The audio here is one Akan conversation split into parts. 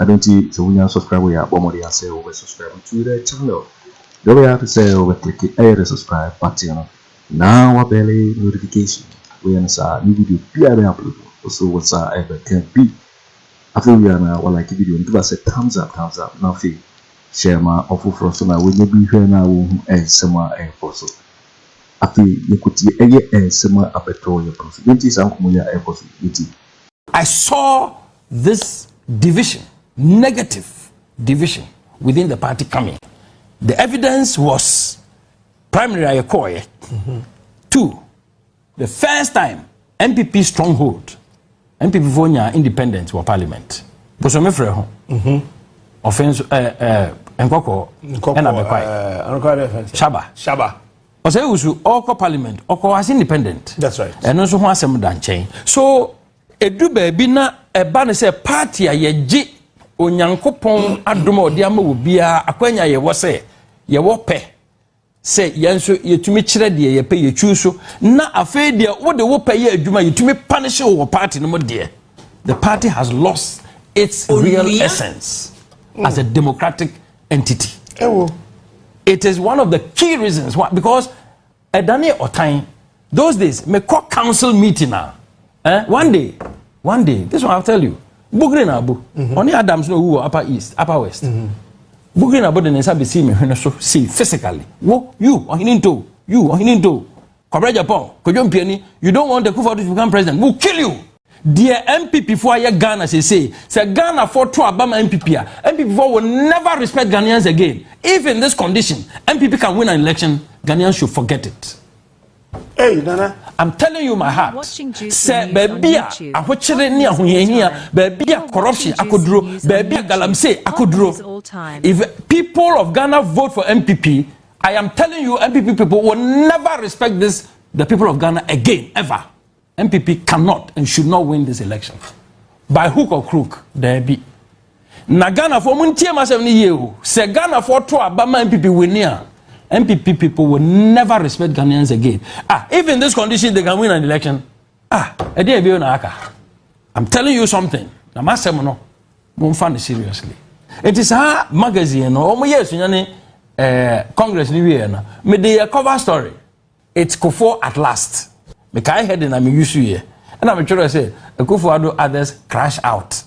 Adɛn nti? Sɛ wonya nsɔskraibo yɛ a, bɔ mmɔden ara sɛ wobɛ sɔskraibo to the channel. Deɛ wobɛyɛ ara ne sɛ wobɛ kliki ɛyɛ the subscribe button no na wabɛle notification. Woyɛ no saa a, new video biara a mɛupload no, wo so wo nsa ɛbɛka bi. Afei wowie a na walike video no, give us a thumbs up, thumbs up, na afei share ma ɔfoforɔ nso na wɔnyɛ bi nhwɛ na wɔnhu nsɛm a ɛrekɔ so. Afei yɛkɔtie ɛyɛ nsɛm a abɛtɔ yɛn pono so. Deɛ nti saa nkɔmmɔ yi a ɛrekɔ so yi nti. I saw this division, negative division within the party coming. The evidence was primary Ayekoye. Mm-hmm. Two, the first time NPP stronghold, NPP Vonya independent were parliament. Bosome frɛ ho. Mm-hmm. Offense, eh, eh, nkɔkɔ, ɛna bɛkwae. Eh, Shaba. Shaba. ɔsɛ ewusu ɔkɔ parliament ɔkɔ as independent. that's right. ɛno nso ho asɛm da nkyɛn so Edu baabi na ɛba no sɛ paati a yɛgye Onyankopɔn adom a ɔde ama wɔ biara akwanya a yɛwɔ sɛ yɛwɔ pɛ sɛ yɛn nso yɛtumi kyerɛ deɛ yɛpɛ yɛtwi so na afei deɛ wode wo pɛ yɛ adwuma yɛtumi panish wo wɔ paati no mu deɛ the party has lost its real essence mm. as a democratic entity. It is one of the key reasons why because Ɛdanee ɔtan. Those days, me kɔ council meeting a, eh, one day, one day, this one I'll tell you, Bugri na abu, mm-hmm. ɔne Adams na owu wɔ Upper East, Upper West. Mm-hmm. Bugri na abu de ne nsa besi me hwene so, see, physically. Wo, you, ɔhene nto, you, ɔhene nto, kɔbrɛ Japan, kodwo mpiani, you don't want the Kufuor to become president, we'll kill you. Deɛ NPP foɔ ayɛ Ghana seesei, sɛ Ghana foɔ to aba ma NPP a, NPP foɔ will never respect Ghanaians again. If in this condition, NPP can win an election, Ghanaians should forget it. Hey, Nana. I'm telling you my heart. Sɛ baabi a ahokyere ne ahohiahia, baabi a corruption akoduro, baabi a galamsey akoduro. If people of Ghana vote for NPP, I am telling you NPP people will never respect this, the people of Ghana again, ever. NPP cannot and should not win this election by hook or crook daabi na ghanafoɔ mu ntie ma asɛm no yie o sɛ ghanafoɔ to aba ma npp wini a npp people will never respect ghanaians again ah if in this condition they can win an election ah ɛdeɛ ɛbɛyɛ na aka i'm telling you something na ma asɛm no mo nfa no seriously eti saa magazine no wɔn yɛ esunya ne ɛɛ eh, congress ni wie na me de yɛ cover story. It's Kufuor at last. Mekae heading na me use yɛ. Ɛna me twerɛ sɛ Akufo Addo others crash out.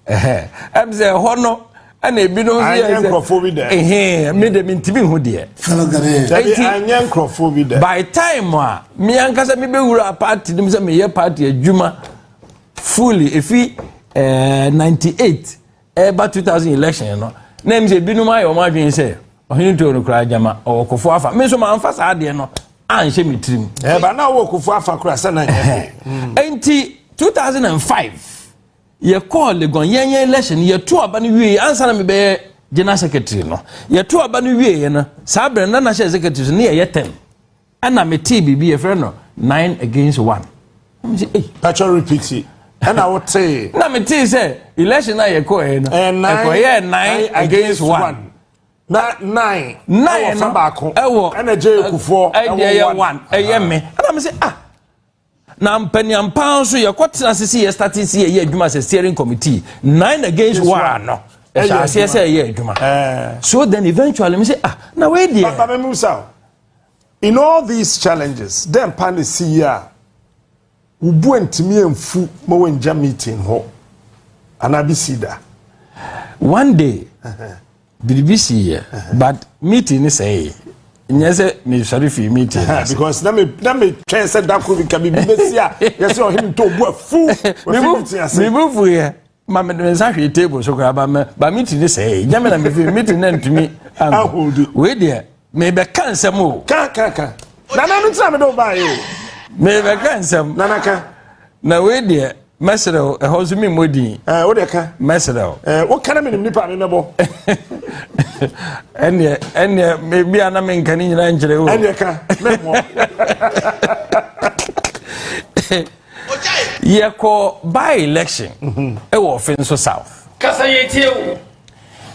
Ɛhɛ. Ɛm sɛ ɛhɔ no ɛna ebinom nso yɛ sɛ. Anyɛ nkurɔfoɔ bi dɛ. Ɛhɛn me de me ntumi hu deɛ. Fellow Ghanaians. Dabi anyɛ nkurɔfoɔ bi dɛ. By time a me ankasa me bɛwura party nim sɛ meyɛ party adwuma fully efi ɛɛ eh, ninety eight ɛreba 2000 election no na ɛmu sɛ binom ayɛ wɔn adwene sɛ ɔhene too no koraa gyama ɔwɔ kofo afa me nso manfa saa adeɛ no anhyɛ me tirim ɛba na ɔwɔ kofo afa koraa sɛ na nyɛ ɛnti 2005 yɛkɔɔ legon yɛnyɛ election yɛto aba no wie ansa na mebɛyɛ general secretary no yɛto aba no wie yɛ no saa berɛ no na nahyɛ secretary so ne yɛyɛ tɛm ɛna me tee biribi yɛ fɛ no nine against one ɛna sɛ ei. pàtó repeat ɛna wo tee. na me tee sɛ election a yɛ kɔ yɛ no ɛkɔ yɛ nine against one. na nine ɛwɔ fa baako ɛna gye ekufoɔ ɛwɔ one ɛyɛ me ɛna me sɛ ah. Na mpaniampa nso yɛkɔ tena ase si yɛ starting si yɛyɛ adwuma sɛ steering committee nine against one no ɛhyɛ aseɛ sɛ ɛyɛ adwuma eh. so then eventually me sɛ ah na wei deɛ. papa mi mu sa in all these challenges dɛn pa na si yi a wubu ntumi nfu ma wɔn ngya meeting hɔ anaa bi si da. one day. biribi siiɛ but meeting ne sɛee nyɛ sɛ mesɔre fii meeting no ase because na me na me twɛn sɛ da koro bi ka biribi bɛsi a yɛsɛ ɔhene ntɔ obu afu wafi meeting ase mebu fuiɛ ma mede me nsa hwee table so koraa ba me ba meeting ne sɛee nyɛ me na mefii meeting na ntumi anko wei deɛ Mebɛka nsɛm o. Ka ka ka. Nana mi tira mi de o ba ye o. Mebɛka nsɛm. Nana ka. Na wei deɛ mɛsrɛ o ɛhɔ nso mi mmɔ din. Ɛɛ eh, o deɛ ka. Mɛsrɛ o. Ɛɛ eh, o kana mi nim nipa mi mɛbɔ. Ɛnneɛ ɛnneɛ bi a na mi nka ne nyinaa nkyerɛ o. Ɛnneɛ ka mɛ mɔ. Yɛkɔ by election mhm. ɛwɔ ɔfin so south. Kasa yɛ tie o.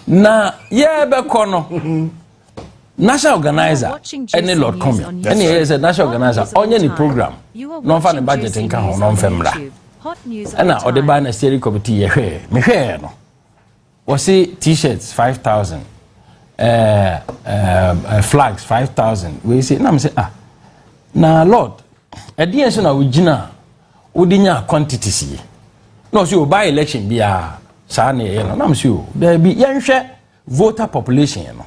Na yɛbɛkɔ no. Mhm. national organizer ɛne lord common ɛne ɛyɛ sɛ national organizer ɔnyɛ ne program na ɔmfa ne budget nka ho na ɔmfɛ mmra ɛna ɔde baa na steering committee yɛhwɛɛ mehwɛɛ no wɔse t-shirt 5000 uh, uh, flags 5000 wei se na mesɛ ah na lord ɛdeɛ so na wogyina a wode nya quantities yi na ɔsɛ ɔba election biaa saa ne ɛyɛ no na mesɛ o daabi yɛnhwɛ voter population no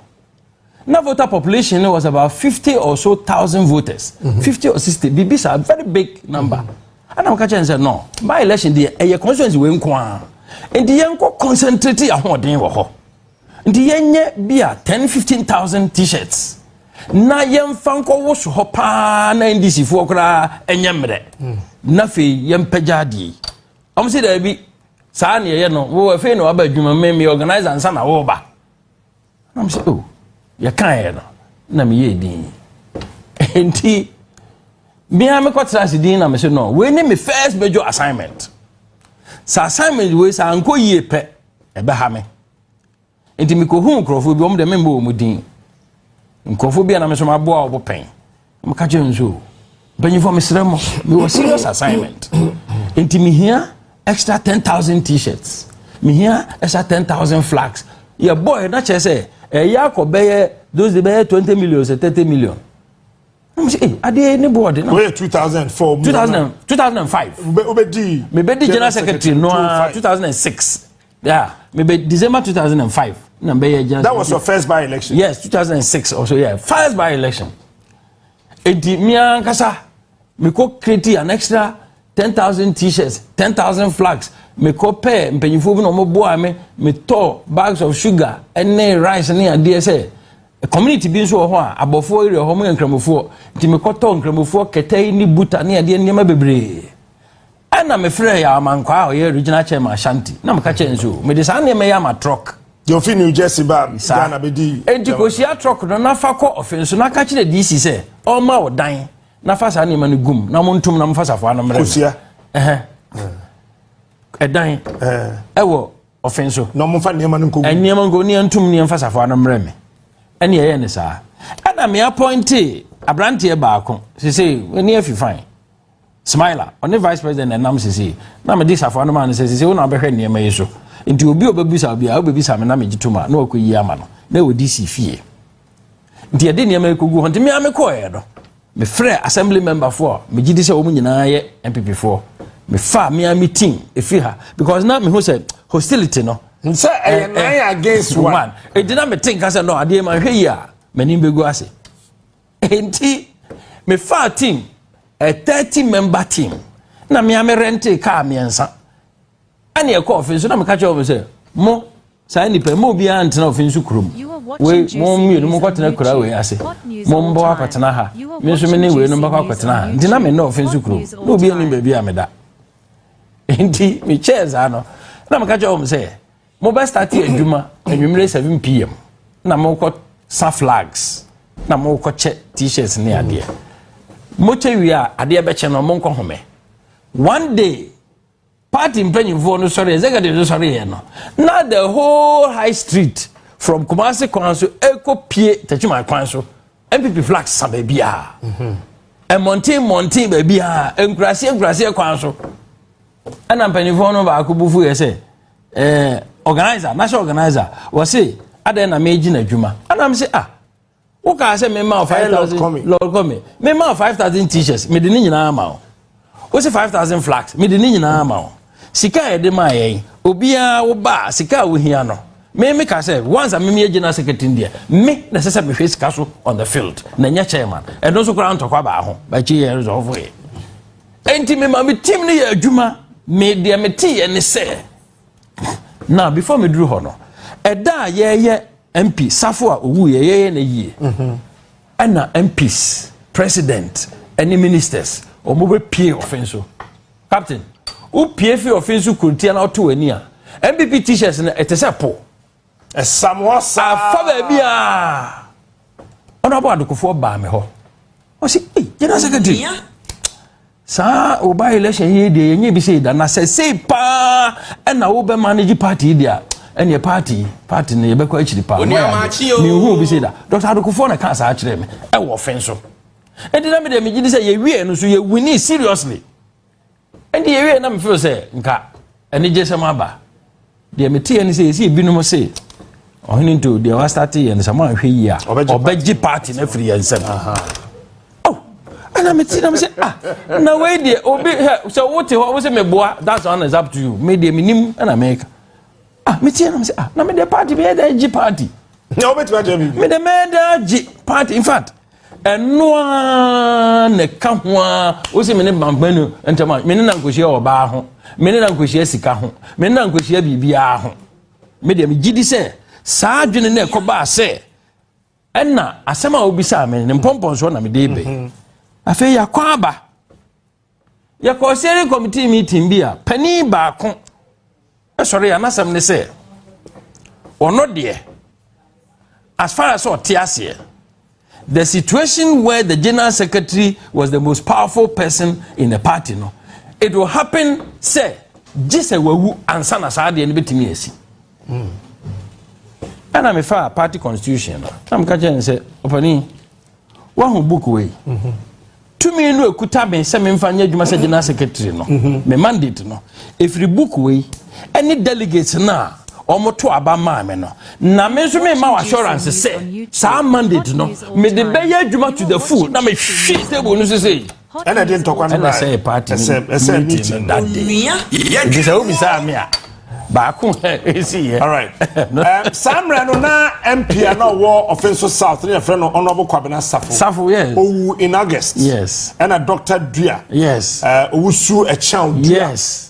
na voter population no was about fifty or so thousand voters mhm. fifty or sixty biribi saa very big number mhm. ana wɔka kyɛn sɛ no by election deɛ ɛyɛ constituency wei nko a nti yɛnkɔ concentrate ahoɔden wɔ hɔ nti yɛnyɛ bi a ten fifteen thousand t-shirts na yɛmfa nkɔwo so hɔ paa na ndc foɔ koraa ɛnyɛ mmerɛ mhm. na afei yɛmpɛgya adeɛ yi wɔn si dɛbi saa na yɛyɛ no wo afei na waba adwuma me me organizer nsa na woba na mesɛ o oh, yɛkaeɛ no na meyɛ din nti bia mekɔtena ase din na mesɛ no wei ne me first major assignment sɛ assignment wei sɛ ankɔ yie pɛ ɛbɛha me nti mekɔhuu nkurɔfoɔ bi wɔn deɛ memmɔ wɔn din nkurɔfoɔ bi a na me nso maboa wɔn pɛn meka kyerɛ nso mpanyinfoɔ mesrɛ mo mewɔ serious assignment nti mehia extra ten thousand t-shirts mehia extra ten thousand flags yɛbɔ ɛ na kyerɛ sɛ ɛyɛ akɔ bɛyɛ those dey bɛyɛ twenty million sɛ thirty million na mo sɛ ee adeɛ ne bɔɔde na. wɔyɛ two thousand four mu. two thousand two thousand and five. wobɛ wobɛ di. mebɛ di general secretary no aa two thousand and six. Yeah, maybe December 2005. No, maybe just that was your first by election. Yes, 2006 also. Yeah, first by election. Eti mi ankasa mi ko create an extra 10,000 t-shirts, 10,000 flags. Mi ko pɛ mpanyinfo bi na wɔn boa mi mi tɔ bags of sugar ɛne rice ne adeɛ sɛ community bi nso wɔ hɔ a abɔfoɔ area hɔ mo yɛ nkramofoɔ nti mi kɔ tɔ nkramofoɔ kɛtɛ ne buta ne adeɛ nneɛma bebree ɛna mefrɛ yɛ amankwaa a ɔyɛ regional chairman ashanti na meka kyerɛ nso mede saa nneɛma yi ama trɔk deɛ ofi new jersey ba ghana bɛdi enti kɔhyia trɔk no na fa kɔ ɔfe nso na ka kyerɛ dc sɛ ɔma wo dan na fa saa nneɛma no gum na montom na mofa safoa no mmerɛ ɛdan ɛwɔ ɔfe nso na ɔmofa nneɛma no nkɔgu nneɛma nkɔgu ne ɛntom ne ɛmfa safoa no mmerɛ me ɛne ɛyɛ ne saa ɛna me apɔnte aberanteɛ baako sese ne afi fine Smiler, ɔne Vice President na ɛnam sesei, na mede safoa no maa no sɛ, sesei wo na wobɛhwɛ nneɛma yi so. Nti obi a ɔbɛbisa wo biara, wobɛbisa me na megye tom a, na wakɔyi ama no, na ɛwɔ DC fie. Nti yɛde nneɛma yi kɔgu hɔ, nti me ara mekɔɔeɛ no, mefrɛɛ assembly member foɔ a megye di sɛ wɔn nyinaa yɛ NPP foɔ, mefaa me ara me team ɛfiri ha, because na mehu sɛ hostility no, sɛ ɛyɛ eh, nine eh, against one, ɛdi na mete nka sɛ no adeɛ ma nhwɛ yi a, m'anim bɛgu ase. Enti mefaa team, a 30 member team, na mea me rente kaa mmiɛnsa. Ɛne ɛkɔ ɔfe nso na meka kyerɛ wɔn sɛ, mo saa nipa mo obiara ntena ɔfe nso kurom. Wei mo mmienu mo nkɔtena kura wei ase. Mo mbɔ akɔtena ha. Me nso me ne wei no mbɛkɔ akɔtena ha. Nti na me ne ɔfe nso kurom. Na obi anim baabi a meda. Enti me kyɛɛ saa no na meka kyerɛ wɔn sɛ, Mobɛ starte adwuma anwummere 7pm na mokɔ sa flags na mokɔ kyɛ t-shirts ne adeɛ. Mokyɛ wie a adeɛ bɛkyɛ no monkɔ home. One day party mpanyinfoɔ no sɔre executive no sɔre yɛ no na the whole high street from Kumasi kwan so ɛkɔ pie Techiman kwan so MPP flags sa baabiara. Mm-hmm. mmɔnten mmɔnten baabi a nkuraseɛ nkuraseɛ kwan so ɛna mpanimfoɔ no baako bufu yɛ sɛ eh, organizer na sɛ organizer wɔse adɛn na megye n'adwuma ana m sɛ ah wokaa sɛ mema wo 5000 lord come mema wo 5000 t-shirts mede ne nyinaa ma wo wo se 5000 flax mede ne nyinaa ma wo sika a yɛde maa yɛn obiara wo ba a sika a wohia no me me ka sɛ once a me me gyina secretary deɛ me na ɛsɛ sɛ mehwɛ sika so on the field na nyɛ chairman ɛno nso koraa ntɔkwa baa ho bakyi yɛ resɔfo yɛ Enti me ma me team no yɛ adwuma. Me deɛ me te yɛ ne sɛ. Na before me duru hɔ no, ɛda a yɛyɛ MP safo a owu yɛ yɛyɛ na yie. Mhm. Ɛna MPs, president, ɛne ministers, wɔn bɛ pie ɔfin so. Captain, wo pie fi ɔfin so kuntia na ɔto wani a, MPP t-shirts no ɛte sɛ po. ɛsam hɔ saa. afa baabi a ɔno abɔ adokofoɔ baa me hɔ ɔsi ee general secretary saa ɔba election yi deɛ yɛnyɛ bi sɛ da na sɛ sei paa ɛna wobɛ manage party deɛ ɛneɛ party party no yɛbɛkɔ akyiri paa mehu bi sɛ da dr adokofoɔ na kaa saa kyerɛ me ɛwɔ fen so ɛnti na medeɛ megye di sɛ yɛwieɛ no so yɛwini seriously Ɛnde yɛwieɛ na mefeel sɛ nka anigyesɛm aba. Deɛ meteɛ ne sɛ yɛsi ebinom se ɔhene nto deɛ wastate yɛ no sɛ moanhwɛ yie a ɔbɛgye party no afiri yɛn nsam. Oh, ɛna mete nam sɛ ah na wei deɛ obi sɛ wote hɔ wo sɛ meboa that's one is up to you me deɛ menim ɛna meka ah me tie na me sɛ ah na me de party bɛyɛ dɛ gye party na wobɛtumi akyerɛ biribi me de mɛyɛ dɛ gye party in fact ɛno a na ɛka ho a wosi me ne bampanu ntɛm a me ne na nkɔhyia ɔbaa ho me ne na nkɔhyia sika ho me ne na nkɔhyia biribiara ho me deɛ megye di sɛ saa adwene no ɛkɔbaa sɛ ɛna asɛm a wobisaa me ne mpɔmpɔnsoɔ na mede bɛn mhm. afei yɛakɔ aba Yɛkɔɔ steering committee meeting bi a panin baako sɔre a n'asɛm ne sɛ ɔno deɛ as far as ɔte aseɛ the situation where the general secretary was the most powerful person in the party no it will happen sɛ gye sɛ wawu ansa na saa adeɛ no bɛtumi asi hmm. ɛna mefaa party constitution no na meka kyerɛ ne sɛ ɔpani Woahu book wei? Mhm. Tumi no ekuta me sɛ memfa nyɛ adwuma sɛ general secretary no. Mhm. Me mandate no. Efiri book wei ɛne delegates no a wɔto aba maa me no. Na me nso mema wɔ assurance sɛ saa mandate no mede bɛyɛ adwuma to the full na mehwe table no so sei. Ɛna ɛde ntɔkwa no baeɛ. ɛna sɛ party ɛsɛ meeting no that day nti sɛ wobisaa me a baako ɛsi yɛ. alright eh, saa mmerɛ no na mp a na ɔwɔ ɔfenso south ne yɛfrɛ no ɔnɔbo kwabena safo safo yes owu in august yes ɛna dr dua yes eh, owusu ɛkyɛn dua yes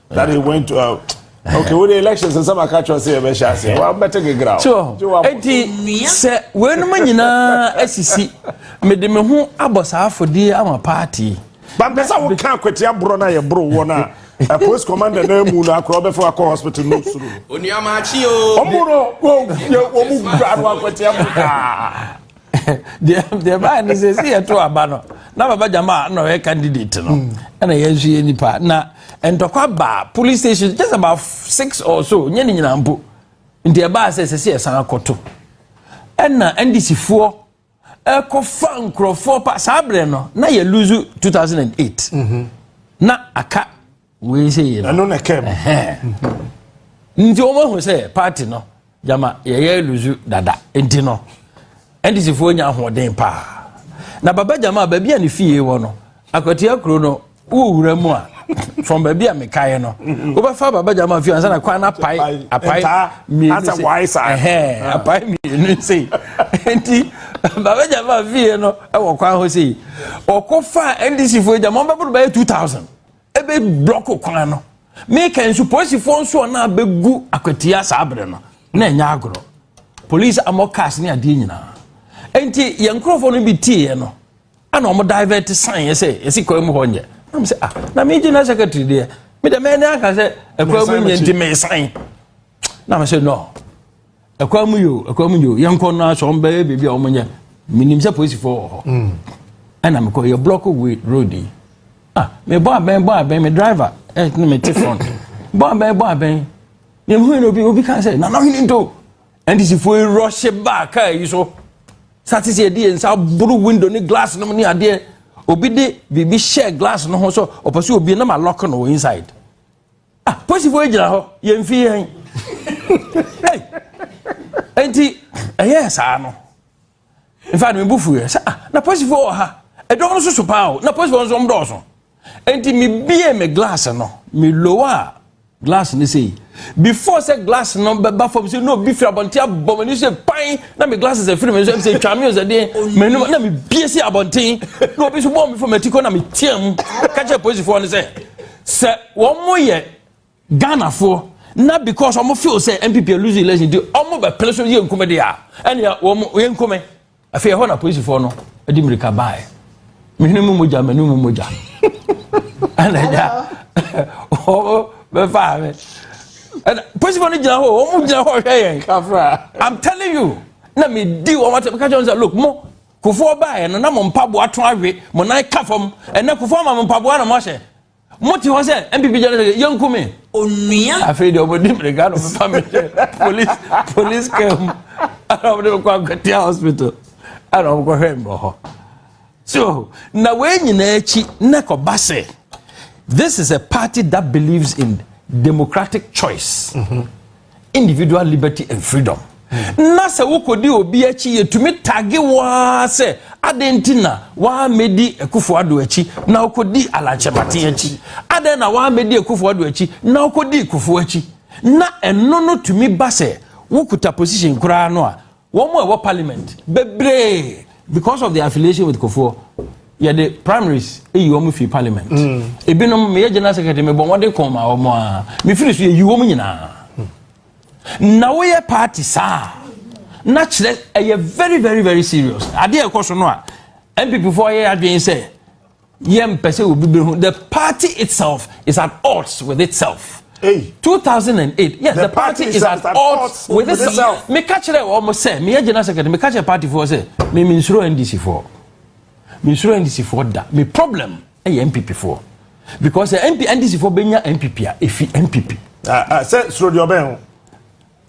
that he went to. Uh, okay wo de elections nsɛm aka kyerɛ sɛ yɛbɛhyɛ aseɛ wabɛte gegra ɛnti sɛ weinom nyinaa asisi mede me ho abɔ saa afɔdie ama party bampɛ sɛ woka akwatia borɔ no a yɛboro woɔ no a post commander no amu no akorɔ wobɛfa wakɔ hospital no suro ɔmo no ɔmo wura no akwatia borɔ deɛ baa ne sɛ si yɛto aba no na baba gyama a na ɔyɛ candidate no hmm. ɛna yɛn nso yɛ nipa na ntɔkwa baa police station just about six or so nyɛ ne nyinaa mpo nti ɛbaa sɛ sɛ si yɛsan akɔto ɛna ndc foɔ ɛkɔfa nkurɔfoɔ pa saa berɛ no na yɛ lose 2008 mhm. na aka wei sɛ yɛ no ɛno na ɛka mu nti wɔn ahu sɛ paati no gyama yɛyɛ luzu dada nti no ndc foɔ nya ahoɔden paa na baba gyama baabi a ne fie wɔ no akwatia kuro no wowura mu a from baabi a mekaeɛ no mhm. wobɛfa baba gyama fie ansa na kwan no apae apae mmienu se apae mmienu se nti baba gyama fie no wɔ kwan ho sei ɔkɔ fa ndc foɔ gyama wɔbɛboro bɛyɛ 2000 ɛbɛ blɔko kwan no meka nso polisifoɔ nso ɔno a bɛgu akwatia saa berɛ no na ɛnyɛ agorɔ polisi amɔ cars ne adeɛ nyinaa nti yɛn nkurɔfoɔ no bi tiiɛ no ɛna wɔn divert san yɛ sɛ yɛsi kwan mu hɔ nyɛ nam sɛ ah na me gyina secretary deɛ me dɛ mɛni aka sɛ ɛkwan mu nyɛ nti mɛsan nam sɛ no ɛkwan mu yo ɛkwan mu yo yɛn kɔ no aso wɔn bɛyɛ biribi a wɔn nyɛ minim sɛ polisifoɔ wɔ hɔ mm. ɛna mekɔ yɛ block way road yi ah mebɔ abɛn bɔ abɛn me driver ɛne me te front bɔ abɛn bɔ abɛn yɛhu yɛn obi obi ka sɛ nana hene nto ndisifoɔ yi rɔhye baa kaa yi so sate sɛ yɛde yɛn nsa boro window ne glass nom ne adeɛ obi de biribi hyɛ glass no ho so ɔpɛ sɛ obie na ma lock no inside Ah, posifo yi gyina hɔ yɛn mfi yɛn hey nti ɛyɛ saa no nfa mi bu fu yɛ sɛ ah na posifo wɔ ha ɛdɔm no soso paa o na posifo nso wɔn dɔɔso nti mi bie mi glass no mi lowa glass no sei before sɛ glass no bɛba fam sɛ na obi firi abɔnten abɔ m'ani sɛ pan na me glasses afiri me nso sɛ twa me sɛ deɛ m'anim na mebie si abɔnten na obi so bɔɔ me fam ati kɔ na meteam ka kyerɛ polisifoɔ no sɛ Sɛ wɔn mo yɛ Ghana foɔ na because wɔn feel sɛ NPP lose election di wɔn bɛ pere so yɛ nkume de a ɛnna wɔn yɛ nkume afei ɛhɔ na polisifoɔ no de mirika baaɛ mehwene mu mogya mɛni mu mogya ɛnna ɛgya wɔn bɛ faa mi ɛnna polisifoɔ no gyina hɔ wɔn gyina hɔ hwɛ yɛn I'm telling you na mi di wɔn atɛ mi ka kyɛn sɛ look mo. kufoɔ baeɛ no na mo mpaboa to awe mo nan ka fam ɛnɛ kufoɔ ma mo mpaboa na moahyɛ mote hɔ sɛ mpp gyana sɛ yɛnku me onua afei deɛ ɔmɔdi mmirika no mefa mehyɛ police police car mu ana ɔmde mekɔ akwatia hospital ana ɔmkɔhwɛ mbɔ hɔ so na wei nyinaa akyi na kɔba sɛ this is a party that believes in democratic choice mm -hmm. individual liberty and freedom na sɛ wokɔdi obi akyi yɛtumi tage waa sɛ adɛn nti na waamɛdi akufo ado akyi na wokɔdi alankyɛmaten akyi adɛn na waamɛdi akufo ado akyi na wokɔdi kufo akyi na ɛno no tumi ba sɛ wokuta position koraa no a Wɔn mu a ɛwɔ parliament bebree because of their affiliation with Kofoɔ yɛde primaries eyi wɔn fi parliament. Mm. Ebinom meyɛ general secretary mebɔ wɔn de kɔn ma wɔn a mefiri so yɛyi wɔn nyinaa. Na woyɛ party saa na kyerɛ ɛyɛ very very very serious adeɛ ɛkɔ so no a npp foɔ yɛ adwene sɛ Yɛmpɛ sɛ obi behu. The party itself is at odds with itself. Hey. 2008 yes the, the party, party is at odds with itself. meka kyerɛ wɔn sɛ meyɛ general secretary meka kyerɛ party foɔ sɛ me mensuro ndc foɔ mensuro ndc foɔ da me problem ɛyɛ eh, npp foɔ because eh, ndc foɔ bɛnya npp a ɛfi npp. Ah, ah, sɛ suro deɛ ɔbɛn ho.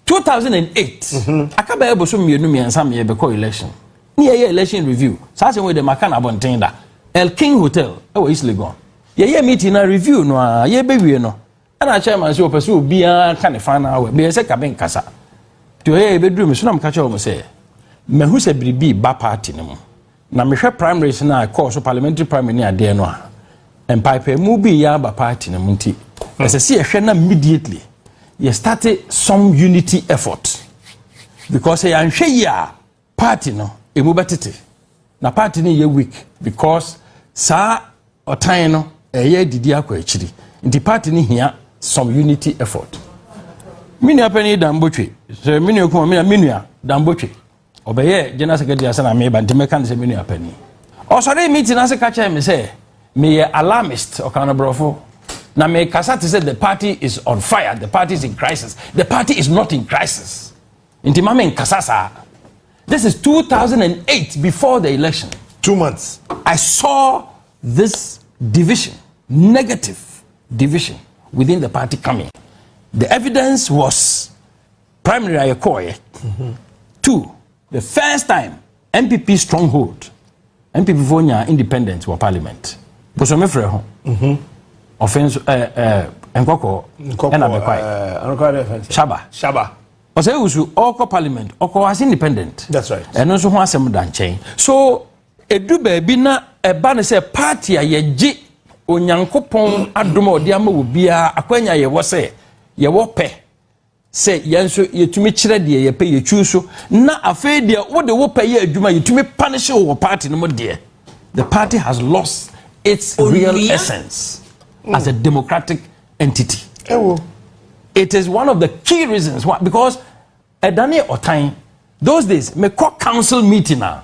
two thousand and eight mhm. aka bɛyɛ bosom mmienu mmiɛnsa mmiɛ bɛkɔ election ne yɛyɛ election review saa asɛm wei dɛ maka no abɔnten da el king hotel ɛwɔ east legon yɛyɛ meeting na review no a yɛbɛwie no ɛna chairman sɛ ɔpɛ sɛ obiara ka ne fa no awɛ bɛyɛ sɛ kabe nkasa nti ɔyɛ yɛbɛduru me so na meka kyerɛ wɔ m sɛ mahu sɛ biribi ba party no mu Na mehwɛ primaries no a ɛkɔɔ so parliamentary primary ne adeɛ no a mpaepaemu bi yɛ aba party no mu nti hmm. ɛsɛ sɛ yɛhwɛ na immediately yɛ start some unity effort because yɛanhwɛ yi a party no emu bɛtete na party no yɛ weak because saa ɔtan no ɛyɛ didi akɔ akyiri nti party no hia some unity effort me nua panyin dambotwe sɛ me nua kuma me nua dambotwe ɔbɛyɛɛ general secretary ansa na meba nti mɛka no sɛ me nua panin ɔsɔre me ti no ase ka kyerɛ me sɛ meyɛ alarmist ɔka no borɔfo na mekasa te sɛ the party is on fire the party is in crisis the party is not in crisis nti ma menkasa saa this is 2008 before the election two months i saw this division negative division within the party coming the evidence was Primary a yɛkɔɔeɛ. Two, the first time NPP stronghold NPP foɔ nyaa independent wɔ parliament. Bosome frɛ ho. Mhm. Ɔfɛ nso ɛɛ eh, ɛɛ eh, nkɔkɔɔ ɛna mekwae. Eh, Shaba. Shaba. Ɔsɛ ewusu ɔkɔ parliament ɔkɔ as independent. That's right. Ɛno nso ho asɛm da nkyɛn. So edu baabi na ɛba ne sɛ party a yɛgye onyankopɔn adom a ɔde ama wɔ biara akwanya yɛwɔ sɛ yɛwɔ pɛ sɛ yɛn nso yɛtumi kyerɛ deɛ yɛpɛ yɛtwi nso na afei deɛ wode wo pɛ yɛ adwuma yɛtumi punish wo wɔ party no mu deɛ the party has lost its real essence as a democratic entity it is one of the key reasons why because ɛdane ɔtan those days mekɔ council meeting a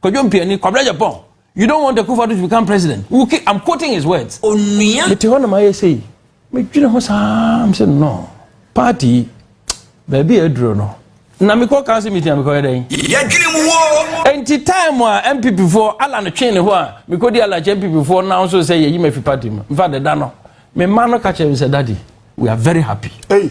Kwadwo Mpiani, Kwabena Agyapong, you don't want Akufo Addo to become president, wo ke, I'm quoting his words. Onua. Mete hɔ na mayɛ sei, medwene ho saa, mese no, party yi, baabi a aduro no, na mekɔ council meeting a mekɔyɛ dɛn? Yɛdwene mu woo. Enti time a MPP foɔ, Alan twee ne ho a, mekɔdi Alan akyi MPP foɔ nan so sɛ yɛyi me afi party mu. Infact ɛda no, me mma no ka kyerɛ me sɛ, daddy, we are very happy. Ei.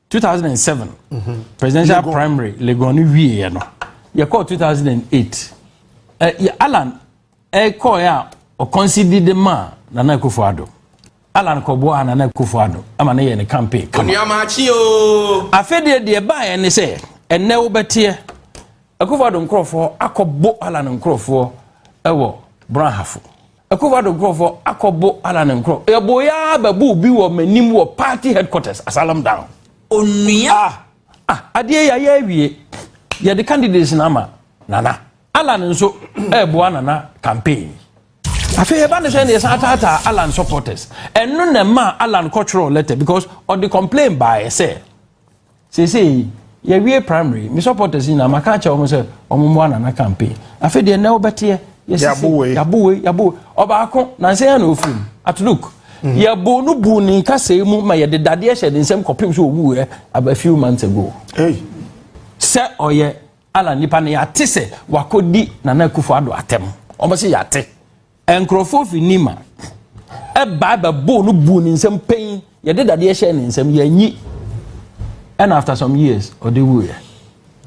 two thousand and seven presidential primary legon no wie yɛ no yɛ kɔɔ two thousand and eight ɛ yɛ alan ɛ kɔɔ yɛ a ɔkɔnsi di de ma nana akufo ado alan kɔboa a nana akufo ado ama ne yɛ ne campaign kama Onuama akyi o. afɛdeɛ deɛ baa yɛ ne sɛ ɛnɛ wobɛteɛ akufo ado nkorɔfoɔ akɔbo alan nkorɔfoɔ ɛwɔ brahafo Akuffo-Addo nkurɔfoɔ akɔbo Allan nkurɔ. Yɛboeɛ ara bɛboo bi wɔ m'anim wɔ party headquarters, Asylum down. Onua. Ah, ah, adeɛ yi ayɛ awie. Yɛde candidates no ama Nana. Allan nso ɛreboa Nana campaign. Afei ɛba no sɛ na yɛsan ataataa Allan supporters. Ɛno na ɛmaa Allan kɔtwerɛɔ letter because ɔde complain baeɛ sɛ. seesei yɛwie primary me supporters nyinaa maka akyɛ wɔn sɛ wɔn mmoa nana campaign afei deɛ nnɛ wobɛteɛ yɛsisi yabowe yabowe ɔbaako nansa yɛn na ofiri mu at look mhm. yɛbo no bu ne nkasɛɛ mu ma yɛde dadeɛ hyɛ ne nsɛm kɔpem so owu ɛ a few months ago sɛ ɔyɛ ala nipa no yɛate sɛ wakɔdi nana akufo ado atɛm wɔn sɛ yɛate Nkurɔfoɔ firi Nima ɛbaa bɛboo no buu ne nsam pɛn yɛde dadeɛ hyɛɛ ne nsam yɛanyi ɛna after some years ɔde wuiɛ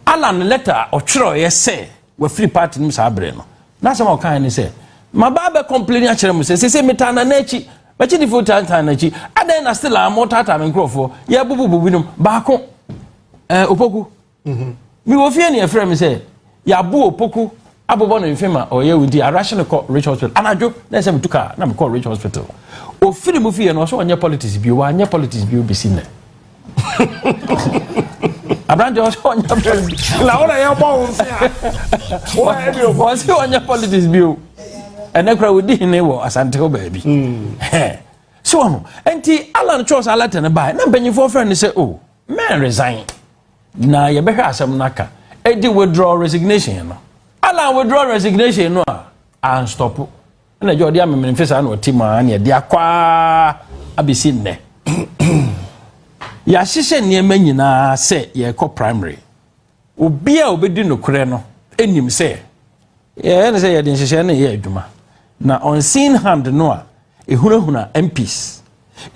Alan lɛta a ɔtwerɛeɛ sɛ wafiri party no mu saa berɛ no n'asɛm a ɔkaeɛ ne sɛ mabaa bɛ complain akyerɛ mo sɛ sese metaa nana akyi makyidifo taataa n'akyi adɛn na still a motaataa me nkurɔfoɔ yɛbububu binom baako ɛɛ opoku Mhm. Me wɔ fie ne ɛfrɛ me sɛ yɛabo opoku abobɔ no mfe ma ɔyɛ wo nti arahye no kɔ rich hospital anadwo na ɛsɛ metu kaa na mekɔ rich hospital ofiri mu fie no ɔsɛ ɔnyɛ politics bio wanyɛ politics bio bɛsi nnɛ aberante ɔsɛ ɔnyɛ politics na wo na yɛbɔ wo mfe a wo na yɛde ɔkɔ ɔsɛ ɔnyɛ politics bio ɛnɛ kora wɔdi hene wɔ asante hɔ baabi hmm. so ɔno nti alan kyerɛ sɛ alɛtɛ no bae na mpanyimfoɔ frɛ no sɛ o oh, mɛn resign Na yɛbɛhwɛ asɛm no aka. Edi withdraw resignation no. Alan withdraw resignation no a, anstɔpo. Ɛna agya ɔde amemene mfe saa na ɔte mu a ne ɛde akɔ ara abɛsi nnɛ. Yɛahyehyɛ nneɛma nyinaa sɛ yɛrekɔ primary. Obi a ɔbɛdi nokorɛ no nim sɛ yɛyɛ ne sɛ yɛde nhyehyɛe no yɛ adwuma. Na unseen hand no a Ehunahuna MPs.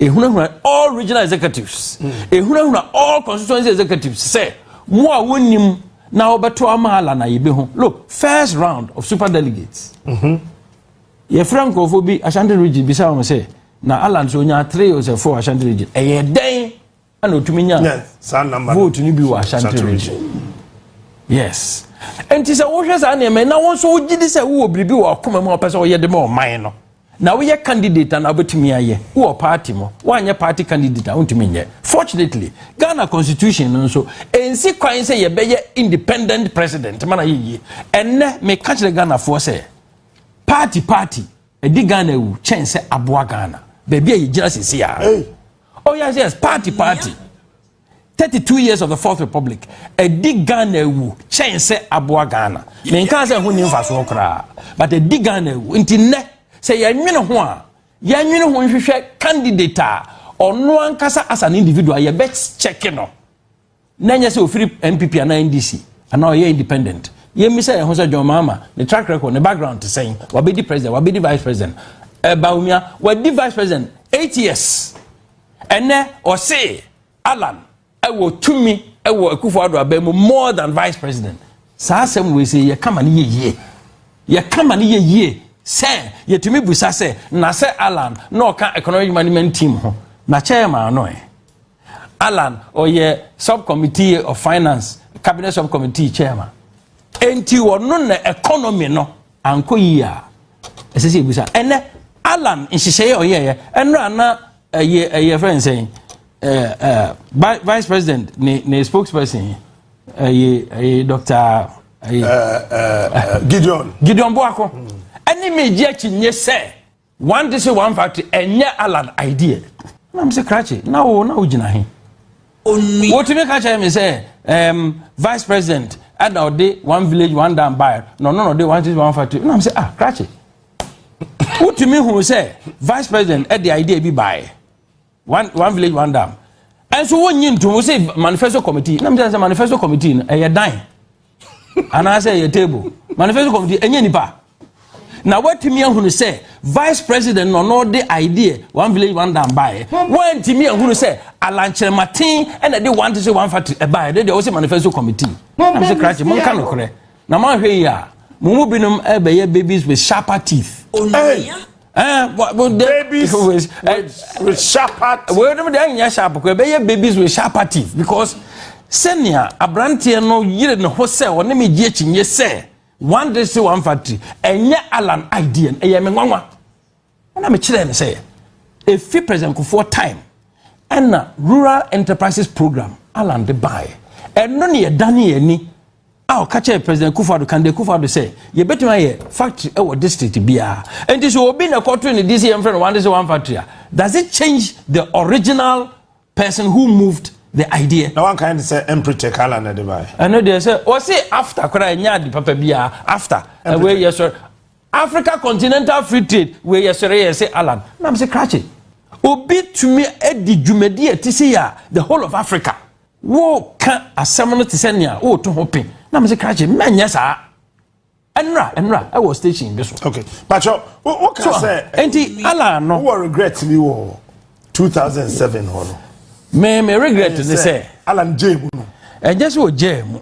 Ehunahuna all regional executives. Hmm. Ehunahuna all constituency executives sɛ mo a wonim na wɔbɛto ama ala na yɛbɛ ho. Look, first round of super delegates. Mm-hmm. Yɛfrɛ nkurɔfoɔ bi Ashanti region bisa wɔn sɛ na ala nso onya three or four Ashanti region. Ɛyɛ dɛn? a na otumi nya vote no bi wɔ ashanti region yes nti sɛ wohwɛ saa nneɛma na wɔn nso wogye di sɛ wowɔ biribi wɔ ɔkoma mu a wɔpɛ sɛ wɔyɛ de ma ɔman no na woyɛ candidate na wobɛtumi ayɛ wowɔ party mu woanyɛ party candidate a wontumi nyɛ fortunately ghana constitution no nso ɛnsi kwan sɛ yɛbɛyɛ independent president ma na yɛyie ɛnnɛ meka kyerɛ ghanafoɔ sɛ party party ɛdi ghana awu kyɛn sɛ aboa ghana baabi a yɛgyina sisi a oh yes yes party party thirty two years of the fourth republic ɛdi ghana ewu kyɛn sɛ aboa ghana ne nka sɛ ɛho ni nfasoɔ koraa but ɛdi ghana ewu nti nnɛ sɛ yɛnwene ho a yɛnwene ho nhwehwɛ candidate a ɔno ankasa as an individual yɛbɛ kyɛke no. na ɛnyɛ sɛ ɔfiri npp anaa ndc anaa ɔyɛ independent yɛmmisa yɛn ho sɛ john mahama ne track record ne background te sɛn wabɛdi president wabɛdi vice president ɛbaomia eh, wadi vice president eight years ɛnɛ ɔse alan ɛwɔ tumi ɛwɔ akufo ado abɛn mu more than vice president saa asɛm wei sɛ yɛka ma no yɛ yie yɛka ma no yɛ yie sɛ yɛtumi busa sɛ na sɛ alan na ɔka economic management team ho na chairman no ɛ Allan, ɔyɛ subcommittee of finance cabinet subcommittee chairman enti ɔno na economy no ankɔ yie a ɛsɛ sɛ ebusa ɛnɛ alan nhyehyɛeɛ a ɔyɛɛyɛ ɛnna ana ɛyɛ ɛyɛ fɛn nsɛn ɛɛ ɛɛ vice president ne ne spokesperson ɛyɛ ɛyɛ doctor ɛyɛ ɛɛ gideon gideon boako ɛne mi gye akyi nye sɛ One this way one fact ɛnyɛ Alan idea. Na mo se krakye na wo na wo gyina he. Onwi. Wotumi ka kyerɛ me sɛ um, vice president ɛna ɔde one village one dam bae na ɔno na ɔde one this way one fact na mo se ah krakye. Wotumi hu sɛ vice president ɛde idea bi bae. one one village one dam ɛnso wonyi ntom wo se manifesto committee na mesɛ sɛ manifesto committee no ɛyɛ dan anaasɛ ɛyɛ table manifesto committee ɛnyɛ nipa na watumi ahunu sɛ vice president na ɔno de idea one village one dam baeɛ wantumi ahunu sɛ alankyerɛmaten ɛna de one to say one factory ɛbaeɛ de deɛ wose manifesto committee na mesɛ krakye monka nokorɛ Na moanhwɛ yie a, mo mu binom bɛyɛ babies with sharper teeth. Onua. Eh, babies with, eh, with sharper teeth. Wei nom deɛ ɛnyɛ sharp kɔ ɛbɛyɛ babies with sharper teeth because sɛnea aberanteɛ no yere ne ho sɛ ɔne me gye akyinnye sɛ one district one factory ɛnyɛ Alan idea ɛyɛ me nwanwa. ɛna mekyerɛɛ no sɛ ɛfi president kofoɔ time ɛna rural enterprises program alan de baeɛ ɛno ne yɛdane yɛn ani a ɔka kyerɛ president kufu ado kande kufu ado sɛ yɛbɛtumi ayɛ factory ɛwɔ district biara nti so obi na ɛkɔto ne di sɛ yɛmfrɛ no one district one factory a does it change the original person who moved the idea. na wanka ne sɛ ɛmprete kala na ɛde baeɛ. ɛno deɛ sɛ wɔse afta koraa ɛnyɛ ade papa biara afta ɛwei yɛ sɔre africa continental free trade wei yɛ sɔre yɛ se alan nam se krakye obi tumi adi dwumadi a ɛte sei a the whole of africa woka asɛm no te sɛ nea woreto ho pe nam se krakye mɛnyɛ saa ɛnra ɛnra ɛwɔ station bi so. okay bàtchọ o o kà sẹ. nti ala no. wọ́n regret mi wọ two thousand seven hɔ no. mi mi regret ni sɛ. ala n jẹ emu no. ɛnyɛ sɛ o jẹ emu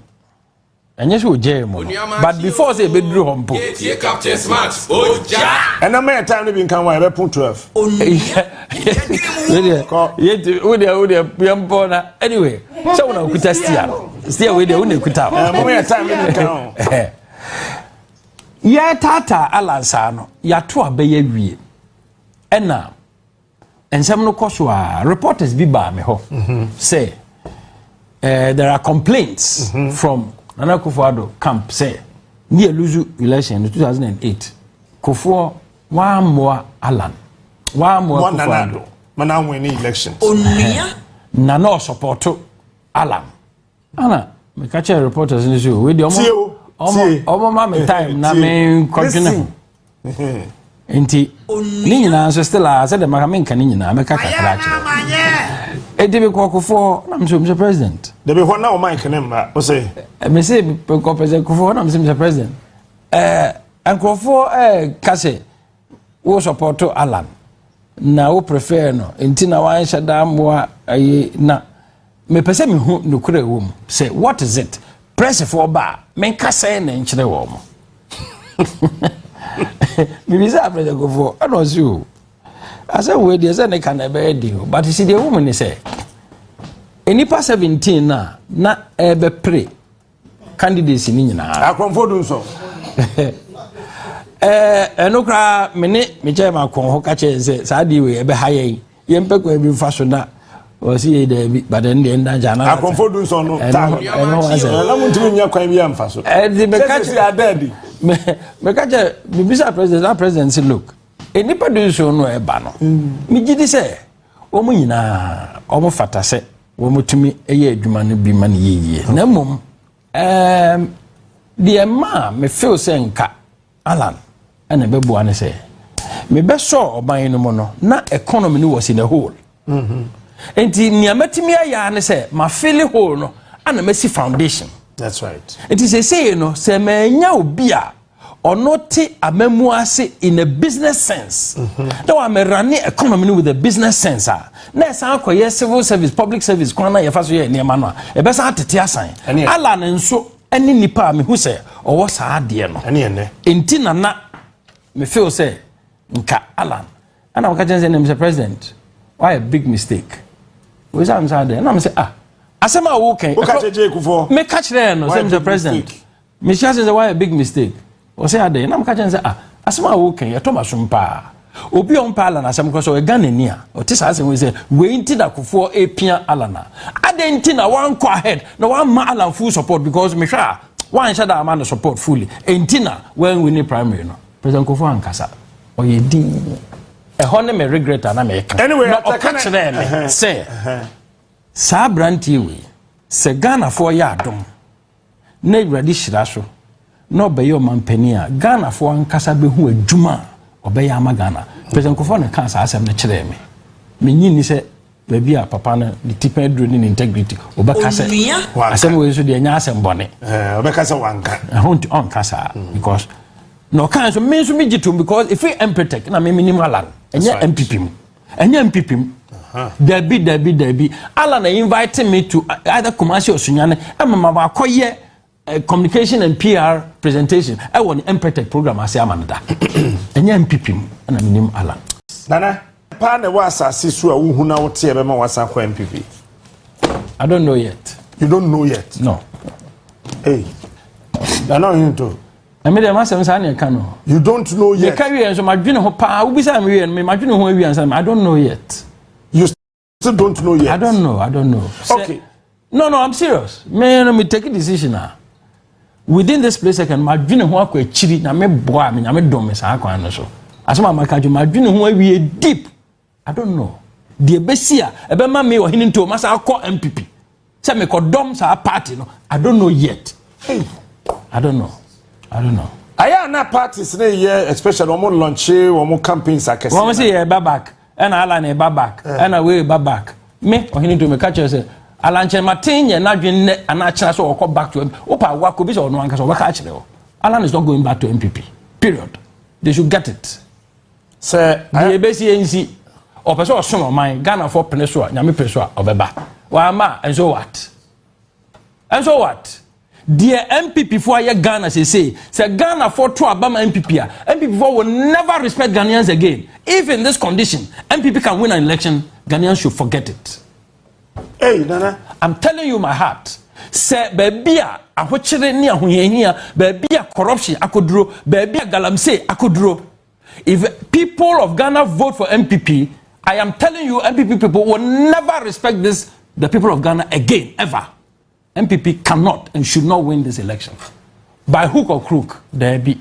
ɛnyɛ sɛ o jẹ emu no but before sɛ ebe duru hɔ mpo. yɛ tie captain smart o ja. ɛnna mɛyɛ time ni bi nkan wa ɛbɛ pun twelve. yɛ ti o deɛ o deɛ yɛn pɔn na anyway sɛ wọn na okuta stia no. sɛ wei deɛ wo na ɛkuta yɛtaataa alansaa no yɛato abɛyɛ wie ɛna nsɛm no kɔ so a reporters bi baa me hɔ mhm. sɛ eh, there are complaints mhm. from nana kofo ado camp sɛ ne yɛ lose election no 2008 kofoɔ wɔammoa alan wɔammoa kofo ado nana ɔsɔpɔto alarm. ana meka kyerɛ reporters no sɛ wei deɛ ɔmoma me time na menkɔdwene ho nti ne nyinaa nso still a sɛdeɛ maka menka ne nyinaa mɛka kakra akyerɛ ɛdi me kɔkofoɔ na mesɛ mesɛ president dabi hɔ na ɔma nkene mmra wo sɛ mese kɔpɛsɛ kofoɔ na mesɛ mesɛ president nkurɔfoɔ ka sɛ Wo sɔpɔto Alan na wo prefer no nti na wanhyɛ da mmoa ayi na mepɛ sɛ mehu nokorɛ wɔ mu sɛ what is it prɛsefoɔ ba a menka sɛn na nkyerɛ wɔ mo mebisa aprɛsɛkofoɔ ɛna ɔse o asɛ wei deɛ sɛ ne ka na ɛbɛyɛ den o but si deɛ ɛwɔ mu ne sɛ nnipa 17 no a na ɛbɛpere candidates no nyinaa. akɔnfo du nsɔn. ɛɛ ɛno koraa me ne me kyɛn ma kɔn hɔ ka kyɛn sɛ saa deɛ wei ɛbɛha yɛn yɛn pɛ kwan bi nfa so na wɔsi yɛ dɛbi but ɛn deɛ nda nkyɛn anam ata akɔnfo du nsɔn no ta ɛno ɛno ho asɛm. ɛna mo ntumi nya kwan bi anfa so. ɛdi mɛ ka kyɛ adɛɛdi. mɛ mɛ ka kyɛ bibisa president na president si look nipa du nsɔn no ɛba no. mi gyi di sɛ wɔn nyinaa wɔn fata sɛ. wɔtumi yɛ adwuma no bi ma no yɛ yie na mmom um, deɛ maa me feel sɛ nka alan ɛna ɛbɛboa no sɛ mebɛsɔɔ ɔban no mu no na economy no was in a hole mm-hmm. nti nea mɛtumi ayɛ ne sɛ mafele hole no ana masi foundation nti seesei no sɛ manya obi a ɔno te amamu ase in a business sense na wamɛra ne economy no with a business sense a na ɛsan akɔyɛ civil service public service kwan na yɛfa so yɛ nneɛma no a ɛbɛsan atete asan ala no nso ne nipa a mehu sɛ ɔwɔ saa adeɛ no nti na na me feel sɛ nka alan ɛna wɔka kyɛn sɛ ne mr president why a big mistake wɔyɛ sɛ amsa adeɛ ɛna me sɛ ah asɛm a wɔkɛn meka kyerɛɛ no sɛ mr president Mehyɛ ase sɛ woayɛ big mistake. Ɔsɛ adɛn? Na meka kyerɛ no sɛ, ah, asɛm a woka yi, ɛtɔ m'asom paa. Obi a ɔmpɛ Allan asɛm kora sɛ ɔyɛ Ghanani a, ɔte saa asɛm yi sɛ, wei nti na Kufuor apia Allan a. Adɛn nti na wankɔ ahead na wamma Allan full support because mehwɛ a, wanhyɛ da amma no support fully. Enti na wanwini primary no. President Kufuor ankasa. Ɔyɛ dinn. Ɛhɔ ne me regret a na meka. Anyway, na ɔka kyerɛɛ me sɛ, saa aberanteɛ wei, sɛ Ghanafoɔ yɛ adom, na Awurade hyira so na ɔbɛyɛ ɔmanpanin a, Ghanafoɔ ankasa bɛhu adwuma a ɔbɛyɛ ama Ghana. President Nkurɔfoɔ na ɛkaa saa asɛm no kyerɛɛ me. Mennye nni sɛ baabi a papa no ne tipɛn aduro ne ne integrity ɔbɛka sɛ asɛm wei nso deɛ ɛnyɛ asɛm bɔne. Eh, ɔbɛka sɛ wanka. Ɛho nti ɔnka saa mm. because na ɔka nso me nso megye tom because ɛfiri Empretec na me menim Alan ɛnyɛ MPP mu. ɛnyɛ mpipim dabi dabi dabi ala na invite me to uh, either kumasi or sunyane ɛma ma wakɔyɛ uh, communication and pr presentation ɛwɔ ne mpɛtɛk program ase ama no da ɛnyɛ mpipim ɛna menim ala nana paa na ɛwɔ asase so a wohu na woteɛ bɛma wasa kɔ mpp i don't know yet you don't know yet no hey nana ɔhento Na me deɛ m'asɛm saa na ɛka no. You don't know yet. Meka wie nso madwene ho paa. Wobisa me wie no me madwene ho awie ansa I don't know yet. You still don't know yet. I don't know. I don't know. Okay. No no I'm serious. Me no me take a decision ah. Within this place second madwene ho akɔ akyiri na me boa me nyame dom me saa kwan no so. Asɛm a maka dwo madwene ho awie deep. I don't know deɛ bɛsi a ɛbɛma me ɔhene ntuo masa akɔ mpp sɛ mekɔdɔm saa party no I don't know yet hey I don't know I don't know. ayɛ a na parties ne yɛ especially wɔn lɔnkye wɔn campaigns akɛse. wɔn sɛ yɛ ba back ɛna ala na ɛba back ɛna eh. wei ba back me ɔhene ntuo meka kyerɛ sɛ alankyɛnmaten yɛ n'adwene nnɛ anaa kyerɛ sɛ ɔkɔ back to mpp wopa awakɔ bi sɛ ɔno ankasa ɔbɛka akyerɛ hɔ alan is not going back to mpp period they should get it. sɛ deɛ ɛbɛsi ɛnsi ɔpɛ sɛ ɔsom ɔman ghanafoɔ pene so a nyame pene so a ɔbɛba wama ɛnso what ɛnso what deɛ npp foɔ ayɛ ghana sese sɛ ghana foɔ to aba ma npp a npp foɔ will never respect ghanaians again if in this condition npp can win an election ghanaians should forget it hey nana i'm telling you my heart sɛ baabi a ahokyere ne ahohiahia baabi a corruption akoduro baabi a galamsey akoduro If people of Ghana vote for MPP, I am telling you, MPP people will never respect this, the people of Ghana again, ever. MPP cannot and should not win this election. By hook or crook, there be.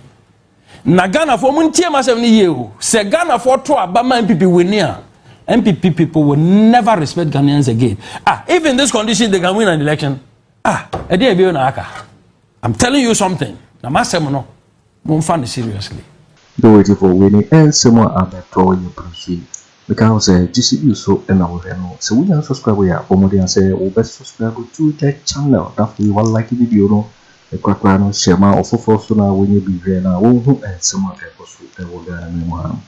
Na Ghana for muntie masem ni ye o. Se Ghana for to abama MPP winia. MPP people will never respect Ghanaians again. Ah, if in this condition they can win an election, ah, edi ebi na aka. I'm telling you something. Na masem no. Momfa no seriously. Dowager foɔ wei ne nsɛm a abɛtɔ yɛ brusu yi meka ho sɛ gyesi you so na wo hwɛ no sɛ wo nya subscribe yɛ a bɔ mmɔden sɛ wo bɛ subscribe to the channel na afei wa like video no ne korakora no hyɛ ma ɔfoforɔ so na wanya bi hwɛ na wa hu nsɛm a ɛkɔ so ɛwɔ Ghana man mu ha nom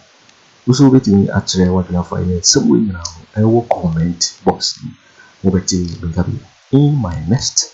wo so wo bɛtumi akyerɛ wadwene afa yɛ nsɛm wei nyinaa ho ɛwɔ comment box no mu wo bɛte me nka bio in my next